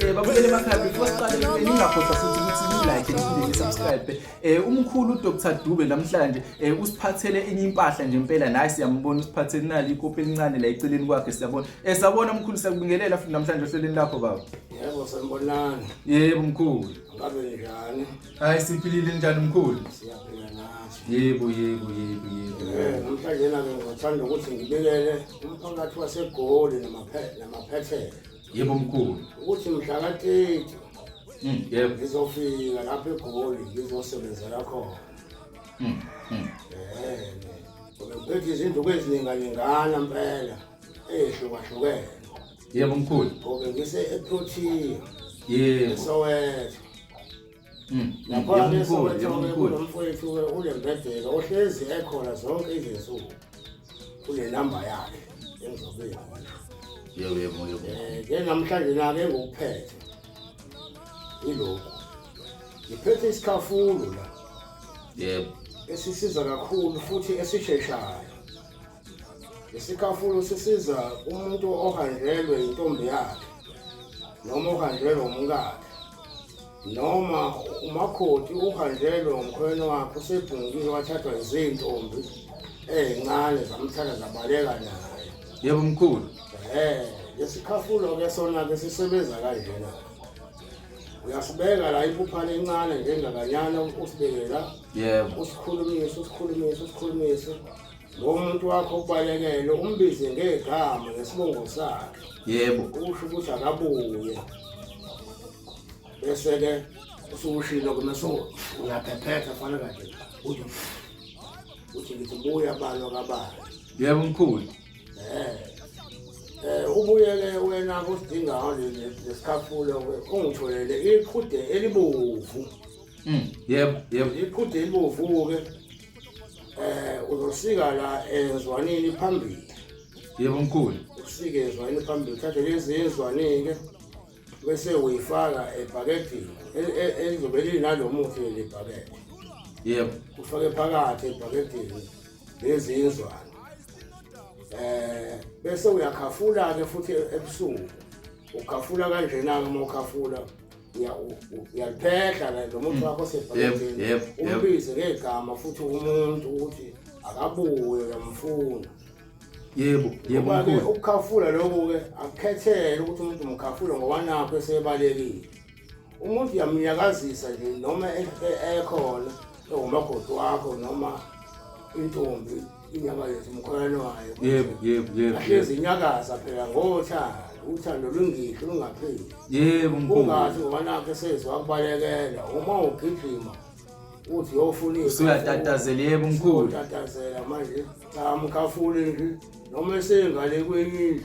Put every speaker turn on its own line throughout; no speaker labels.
Eh babukele emakhaya before siqale eh, ningakhohlwa futhi ukuthi ni-like niphinde ni-subscribe eh umkhulu uDr Dube namhlanje eh usiphathele enye impahla nje impela naye siyambona usiphathele nali ikopi elincane la eceleni kwakhe siyabona eh sabona umkhulu siyakubingelela futhi namhlanje ohlelweni lakho baba yebo
sanibonani yebo mkhulu
ngabe
njani hayi siphilile
njani mkhulu siyaphila nathi
yebo yebo yebo
yebo eh namhlanje
nami ngithanda ukuthi ngibikele umphakathi wasegoli namaphethela yebo mkhulu
ukuthi mhla katete
hmm, yebo
ngizofika
lapha egoli ngizosebenzela khona hmm, hmm. Bethi izinduku ezininganyengana mpela eyehlukahlukene. Yebo
mkhulu. Ngobe ngise
eProtea. Yebo.
Soweto.
Mm. Lapha ke sobathobe kulo mfowethu ke unembedeka ohlezi ekhona zonke izinsuku kule namba yakhe engizobe yona. Yebo
yebo yebo. Eh ke
namhlanje na ke ngokuphethe. Ilokho. Ngiphethe isikhafulo la. Yebo.
Esisiza
kakhulu futhi esisheshayo. Isikhafulo sisiza umuntu ohanjelwe intombi yakhe noma ohanjelwe umkakhe noma umakoti uhanjelwe umkhweni wakhe usebhungile wathathwa izintombi ezincane zamthatha zabaleka naye. Yebo mkhulu.
Eh,
lesikhafulo ke sona ke sisebenza kanjena. Uyasibeka la iphupha lencane njengakanyana usibekela. Yebo. Usikhulumisa,
usikhulumisa, usikhulumisa.
ngomuntu wakho obalekele umbize ngegama ngesibongo sakhe yebo usho
ukuthi
akabuye bese-ke usukushilo kumeso uyaphephetha fana kanje uthi uthi ngithi buya balwa kabani yebo mkhulu
eh eh
ubuyele wena kusidingayo lesikhafulo ungitholele iqhude elibovu mm
yebo yebo iqhude
elibovu ke eh uzosika la ezwanini phambili yebo
mkhulu usike ezwanini
phambili thathe lezi ezwanini ke bese uyifaka ebhakedini elizobe linalomuthi leli bhakede yebo
ufake phakathi
ebhakedini lezi izwane eh bese uyakhafula ke futhi ebusuku ukhafula kanjena ke uma ukhafula uyaluphehla la lo muntu wakho osebhaketheni umbize ngegama futhi umuntu ukuthi akabuye uyamfuna yebo
yebo mkhulu ukukhafula lokho
ke akukhethele ukuthi umuntu umkhafule ngoba nakho esebalekile umuntu uyamnyakazisa nje noma ekhona ewumakoti wakho noma intombi indaba yethu umkholwane wayo yebo yebo yebo ahlezi
inyakaza
phela ngothando uthando lwengihlo lungapheli yebo mkhulu
ungathi ngoba nakhe
sezwa kubalekela uma ugijima uthi yofuna usuyatatazela yebo
mkhulu utatazela
manje cha mkhafule nje noma esengale kwenye indlu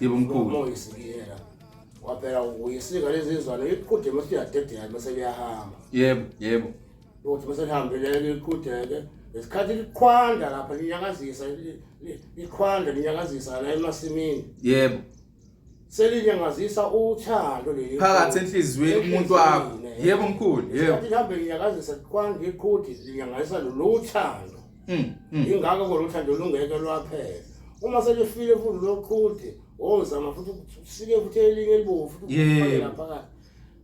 Yebo mkhulu. Ngoyisikiyela. Waphela uyisika lezi zizalo iqhude mase yadedela mase liyahamba. Yebo, yebo.
Uthi mase
lihambile liqhudeke. Ngesikhathi liqhwanda lapha linyakazisa li- li- liqhwanda linyakazisa la emasimini. Yebo. Selinyakazisa uthando leli. Phakathi enhliziyweni
kumuntu wakho. Enhliziyweni, eh. Yebo mkhulu, yebo. Isikhathi lihambe linyakazisa
liqhwanda iqhude linyakazisa lolu thando. Mm, mm. ingakho khona uthando lungeke lwaphela uma selifile futhi loqhude wozama futhi usike futhi elinye elibovu futhi Yebo. ufake laphakathi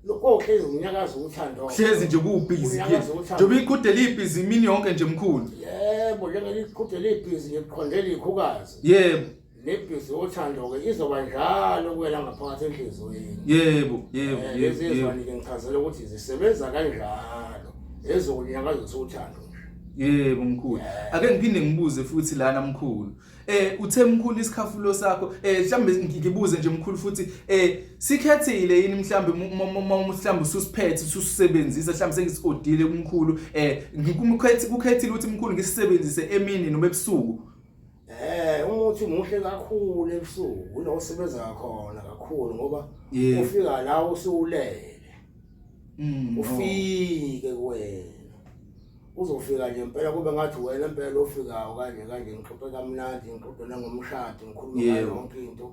lokho hlezi unyakaza uthando hlezi nje kuwubhizi
ke Unyakaza uthando. njengoba iqhude libhizi imini yonke nje mkhulu yebo
njengeliqhude libhizi ngiqhondela ikhukazi
yebo
nebhizi yothando-ke izoba njalo kuwela ngaphakathi enhliziyweni yebo yebo Eh,
lezi yebo, yebo ezwane-ke
ngichazela ukuthi zisebenza kanjalo ezokunyakazisa uthando nje yebo
mkhulu ake ngiphinde ngibuze futhi lana mkhulu eh uthe mkhulu isikhafulo sakho eh mhlambe ngi- ngibuze nje mkhulu futhi eh sikhethile yini mhlambe mu- mu- mu- mu- mhlambe ususiphethe ususebenzisa mhlambe sengisiodile kumkhulu eh ngikumkhethi kukhethile ukuthi mkhulu ngisisebenzise emini noma ebusuku Eh
umuthi muhle kakhulu ebusuku unosebenza khona kakhulu ngoba Yeah. ufika la usuwulele Mm. oh. ufike kuwena uzofika nje impela kube ngathi wena impela ofikayo kanje kanje ngixoxe kamnandi ngixoxe nangomshado ngikhulume ngayo Yebo. yonke into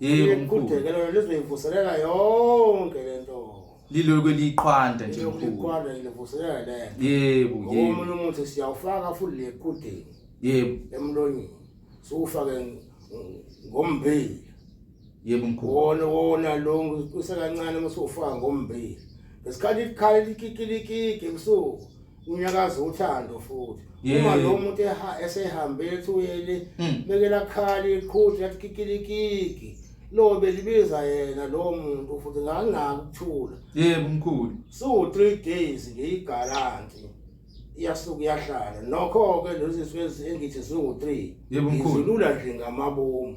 Yebo mkhulu.
Kudeke lona lizoyivuselela
yonke lento. Lilo
kweliqhwanda nje mkhulu. Liqhwanda livuselela
lento. Yebo, yebo. Omunye
umuntu
siyawufaka futhi le kudeke. Yebo.
Emlonyeni.
Sokufake ngombili.
Yebo mkhulu. Wona wona lo
kusekancane uma sofaka ngombili. Ngesikhathi ikhala likikilikiki ebusuku. unyakaza uthando futhi Yeah. uma lo muntu eha- esehambe ethuyeli Mm. beke lakhali iqhuti lathi kikilikiki lo belibiza yena lo muntu futhi nganginaki ukuthula yebo mkhulu
siwu-three
days nje igaranti iyasuke iyahlala nokho-ke lezi zinsuku ezi- engithi ziwu-three Yebo, mkhulu. ngizilula
nje ngamabomu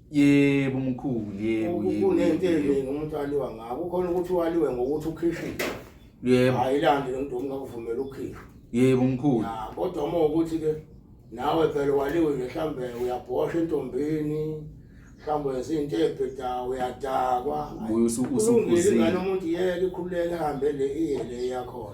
yebo
mkhulu yebo yebo kunento
eningi umuntu aliwa ngako khona ukuthi waliwe ngokuthi ukhishile yebo
ayilande lento
ungakuvumela ukhishwe yebo mkhulu
kodwa uma ukuthi
ke nawe phela waliwe nje mhlambe uyabhosha entombini mhlambe wenza into ebheda uyadakwa ubuye usukhuzile
umuntu yeke
ikhululeke hambe le iye le yakho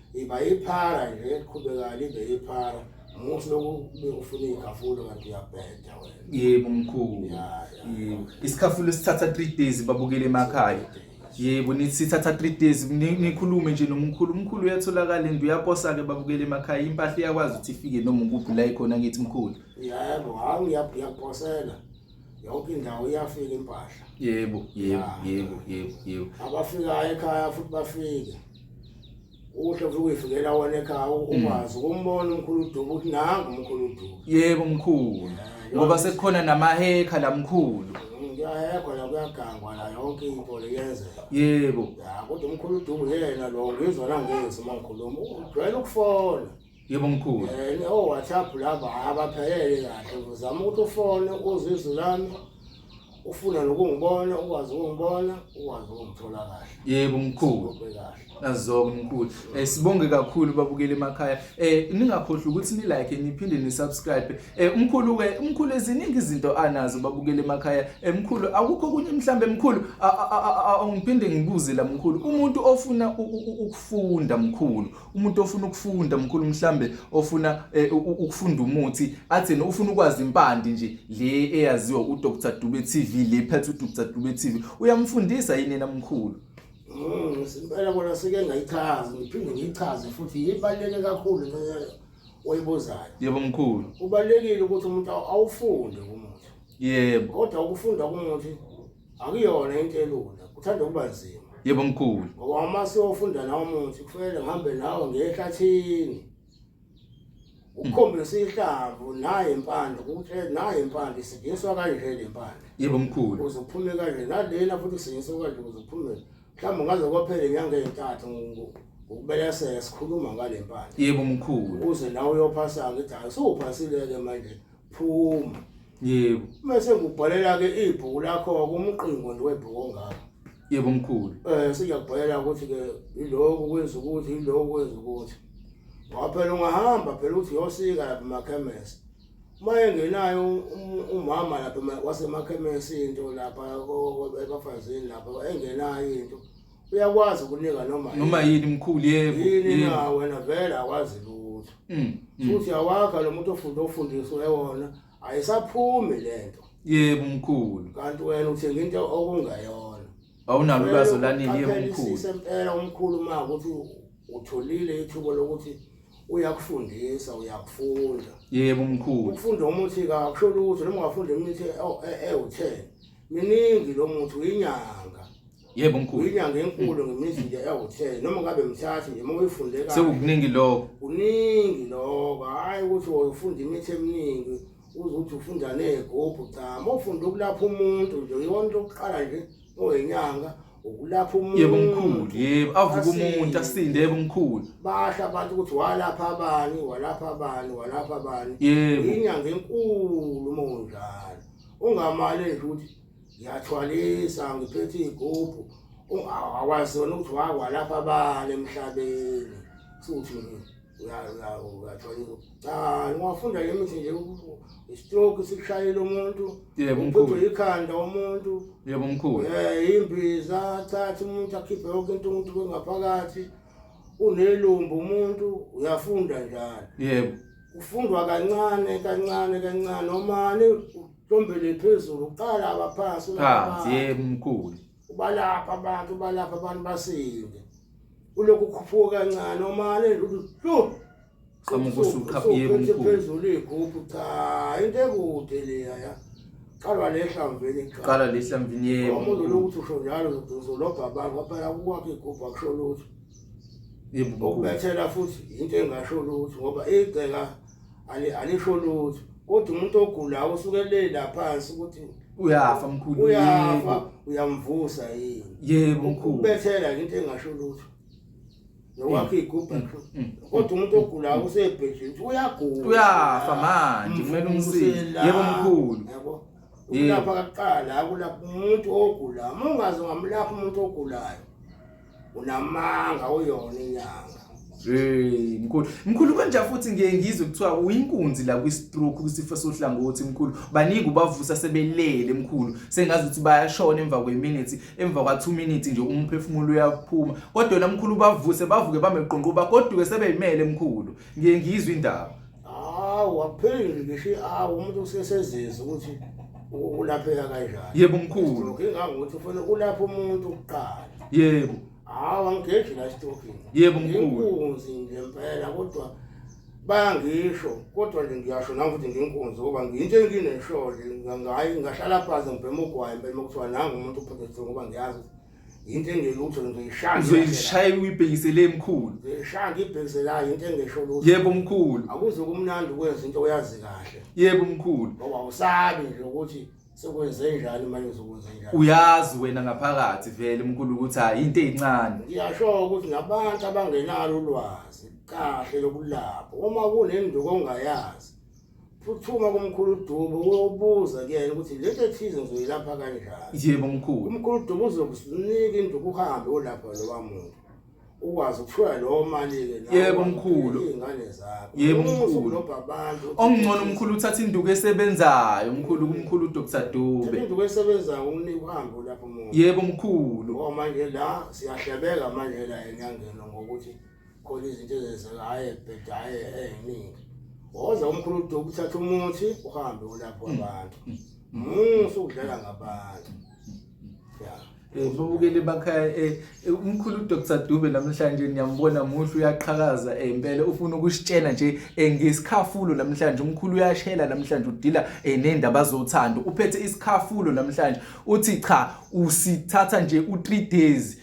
iba iphara nje eliqhubekayo libe iphara muhle lokube ufuna iy'khafulo kanti uyabheda wena yebo mkhulu
yebo isikhafulo esithatha three days babukele emakhaya yebo nithi sithatha three days nikhulume nje nomkhulu umkhulu uyatholakala and uyaposa-ke babukele emakhaya impahla iyakwazi ukuthi ifike noma ukuphi la ikhona ngithi mkhulu yebo
hawu uyaposela yonke indawo iyafika impahla yebo yebo
yebo yebo yebo
abafikayo ekhaya futhi bafike uhle futhi uyifikela wona ekhaya ukwazi mm. ukumbona umkhulu udubu ukuthi nangu umkhulu udubu yebo mkhulu
ngoba sekukhona namahekha la mkhulu kuyahekwa la
kuyagangwa la yonke into leyenzeka yebo ya
kodwa umkhulu
udubu yena lo ngizwa nangezi uma ngikhuluma ujwayele ukufona yebo mkhulu
Eh, o WhatsApp
laba abaphelele kahle uzama ukuthi ufone uzwe izwi lami ufuna nokungibona ukwazi ukungibona ukwazi ukungithola kahle yebo mkhulu ube
kahle Nazoke mkhulu. Eh sibonge kakhulu babukeli emakhaya. Eh ningakhohlwa ukuthi ni like niphinde ni subscribe. Eh umkhulu ke umkhulu eziningi izinto anazo babukeli emakhaya. Eh mkhulu akukho kunye mhlambe mkhulu a- a- a- a- a- ngiphinde ngibuze la mkhulu. Umuntu ofuna u- u- u- ukufunda mkhulu umuntu ofuna ukufunda mkhulu mhlambe ofuna eh, ukufunda umuthi athini ufuna ukwazi impande nje le eyaziwa uDr Dube TV le phethe uDr Dube TV uyamfundisa yini yena mkhulu mm,
Simpela kona sike ngayichaza ngiphinde ngiyichaze futhi ibaluleke kakhulu nceyo oyibuzayo Yebo mkhulu
Ubalekile ukuthi
umuntu awufunde umuthi Yebo kodwa
ukufunda
umuthi akuyona into elula kuthanda ukuba nzima yebo mkhulu
ngoba uma siyofunda
nawo muthi kufanele ngihambe nawo ngehlathini ukukhombisa ihlamvu naye impande ukuthi naye impande isidingiswa kanje le mpande yebo mkhulu ukuze
kuphume kanje
nalena futhi kusinyiswa kanje ukuze kuphume mhlawumbe ngaze kwaphela inyanga ezintathu ngokubeleseka sikhuluma ngale mpande yebo mkhulu ukuze
nawe uyophasa
ngithi hayi sowuphasile-ke manje phuma yebo
mase ngubhalela
ke ibhuku lakho kumqingo nje webhuku ongaka yebo mkhulu
eh siyakubhalela ukuthi
ke iloko kwenza ukuthi iloko kwenza ukuthi waphela ungahamba phela uthi yosika lapha emakhemesi mayengenayo um- umama lapha ema- wasemakhemesini into lapha ko- ko- ebafazini lapha engenayo into uyakwazi ukunika noma yini. noma yini mkhulu
yebo yini yebo. na wena
vele akwazi lutho Mm, mm. futhi awakha lo muntu ofunde ofundiswe wona ayisaphumi lento yebo mkhulu
kanti wena uthenga
into okungayona awunalo
ulwazi olanele yebo Qaphela mkhulu isise impela umkhulu
ma ukuthi utholile ithuba lokuthi uyakufundisa uyakufunda yebo mkhulu
ukufunda umuthi kakusho
lutho noma ungafunda imithi ewu- e- ewu-10 miningi lo muthi uyinyanga yebo mkhulu
inyanga enkulu ngemizi
nje ewuthe noma ngabe mthathe nje uma uyifunde kahle sekukuningi lokho
kuningi
lokho hayi ukuthi uyofunda imithi eminingi uzothi ufunda nezigubhu cha uma ufunda ukulapha umuntu nje yona into yokuqala nje oyinyanga ukulapha umuntu yebo mkhulu yebo
avuka umuntu asinde yebo mkhulu basha abantu ukuthi
walapha abani walapha abani walapha abani yebo inyanga
enkulu
uma unjalo ungamali nje ukuthi ngiyathwalisa ngiphethe igubhu awazona ukuthi wakwa lapha bani emhlabeni futhi uyathwalisa cha ngiwafunda le mithi nje istroke sikushayela umuntu uphethwe
yikhanda umuntu
yebo mkhulu
eh imbiza
thatha umuntu akhiphe yonke into umuntu kwengaphakathi unelumbu umuntu uyafunda njalo yebo
ufundwa
kancane kancane kancane omane Ntombele phezulu uqala abaphansi phansi yemkhulu.
Ubalapha
abantu ubalapha abantu basinde. Ulokhu ukhuphuka kancane omale lu. Qhamuka
usuqhapha yemkhulu. Phezulu igubhu
cha into ekude leya ya. Qala lehlamvini cha. Qala lehlamvini yemkhulu.
Umuntu lokuthi usho njalo
uzolobha abantu kwaphela kukwakhe igubhu akusho lutho.
Yemkhulu. Ubethela futhi
into engasho lutho ngoba igceka alisho lutho kodwa umuntu ogulayo usuke le lapha ukuthi uyafa mkhulu
uyafa
uyamvusa yini yebo mkhulu
ubethela into engasho
lutho nokwakhe igubha mm, mm, mm, kodwa umuntu ogulayo usebhedleni ukuthi uyagula uyafa
manje kumele umsize yebo mkhulu
yebo ukulapha kuqala akulapha umuntu ogulayo uma ungazi ungamlapha umuntu ogulayo unamanga uyona inyanga Hey mkhulu mkhulu kanje futhi ngiye ngizwe kuthiwa uyinkunzi la kwi stroke kwisifo sohlangothi mkhulu baningi ubavusa sebelele mkhulu sengazi ukuthi bayashona emva kwe minute emva kwa 2 minutes nje umphefumulo uyaphuma kodwa yena mkhulu ubavuse bavuke bameqonqo bagoduke sebeyimele mkhulu ngiye ngizwe indaba Hawu wapheli ngisho hawu umuntu usesezizwe ukuthi u- ulapheka kanjani. yebo mkhulu Stroke
ingangokuthi ufuna
ulapha umuntu kuqala. yebo
Hawu angigeji
la stroking. Yebo, mkhulu.
Inkunzi nje
impela kodwa bayangisho kodwa nje ngiyasho nami ukuthi nginkunzi ngoba ngiyinto engineshole ngayi ngahlala phansi ngibhema ugwayi impela uma kuthiwa nangu umuntu uphethwe ngoba ngiyazi ukuthi into engelutho ngizoyishaya ngizoyishaya uyibhekisele
emkhulu ngizoyishaya ngibhekiselayo
into engesho lutho yebo mkhulu akuze
kumnandi
ukwenza into oyazi kahle yebo mkhulu
ngoba usabi
nje ukuthi sekwenze njani manje uzokwenza njani uyazi wena
ngaphakathi vele mkhulu ukuthi hayi into ezincane ngiyasho ukuthi
nabantu abangenalo ulwazi kahle lokulapho uma kunenduko ongayazi phuthuma kumkhulu Dubo uyobuza kuyena ukuthi lento ethize ngizoyilapha kanjani yebo mkhulu umkhulu
Dubo
uzokusinika induku uhambe olapha lowa muntu ukwazi ukuthola lowo mali-ke yebo mkhulu
iy'ngane zakho
yebo mkhulu
abantu okungcono umkhulu uthatha induku esebenzayo mkhulu kumkhulu udr dube induku esebenzayo
umnika uhambe lapho muntu yebo mkhulu
ngoba manje la
siyahlebeka manje la enyangeni ngokuthi khona izinto ezenzeka hhayi ebheda hhayi ey'ningi woza umkhulu uduku uthatha umuthi uhambe ulapho mm. abantu mm. Mm. usukudlala ngabantu ya Eh,
babukele bakhaya eh, eh, umkhulu uDr Dube namhlanje ngiyambona muhle uyaqhakaza impela ufuna ukusitshena nje ngesikhafulo namhlanje umkhulu uyashela namhlanje udila nendaba zothando uphethe isikhafulo namhlanje uthi cha usithatha nje u3 days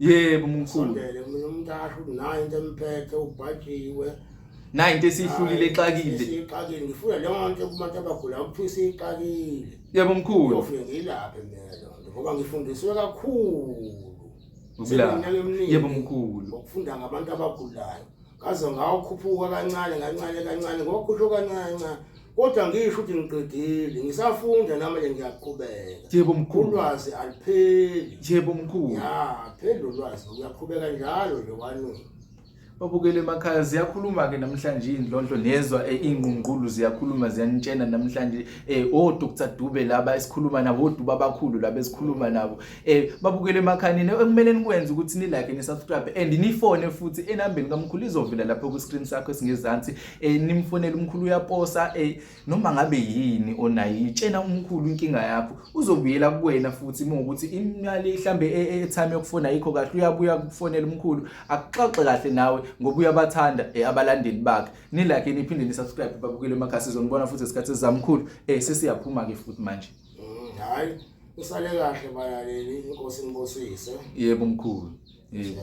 yebo mkhulu
sondele mina
umntashu nayo into emphethe ubhajiwe nayo into
esihlulile exakile siyixakile ngifuna
leyo nto kubantu abagula ukuthi siyixakile yebo mkhulu
ngifike ngilaphe mina
lonto ngoba ngifundiswe kakhulu ukulapha
yebo mkhulu ukufunda ngabantu
abagulayo ngaze ngawukhuphuka kancane kancane kancane ngokhusho kancane kodwa ngisho ukuthi ngiqedile ngisafunda nami nje ngiyaqhubeka yebo mkhulu ulwazi
alipheli
yebo mkhulu ya
phela
ulwazi uyaqhubeka njalo nje kwanini babukele
emakhaya ziyakhuluma ke namhlanje indlondlo nezwa eh, ingqungqulu ziyakhuluma ziyanitshena namhlanje eh o Dr Dube laba esikhuluma nabo oduba abakhulu laba esikhuluma nabo eh babukele emakhanini ekumele nikwenze ukuthi ni like ni subscribe and ni phone futhi enambeni kamkhulu izovela lapho ku screen sakho esingezansi eh nimfonela umkhulu uyaposa eh noma ngabe yini onayo itshena umkhulu inkinga yakho uzobuyela kuwena futhi uma ukuthi imali ihlambe e, e, etime yokufona yikho kahle uyabuya kufonela umkhulu akuxoxe kahle nawe ngoba uyabathanda eh abalandeli bakhe ni like niphinde ni subscribe babukele emakhasi zonibona futhi isikhathi sizamkhulu eh sesiyaphuma ke futhi manje Mm, hayi
usale kahle balaleli inkosi inibusise yebo mkhulu
yebo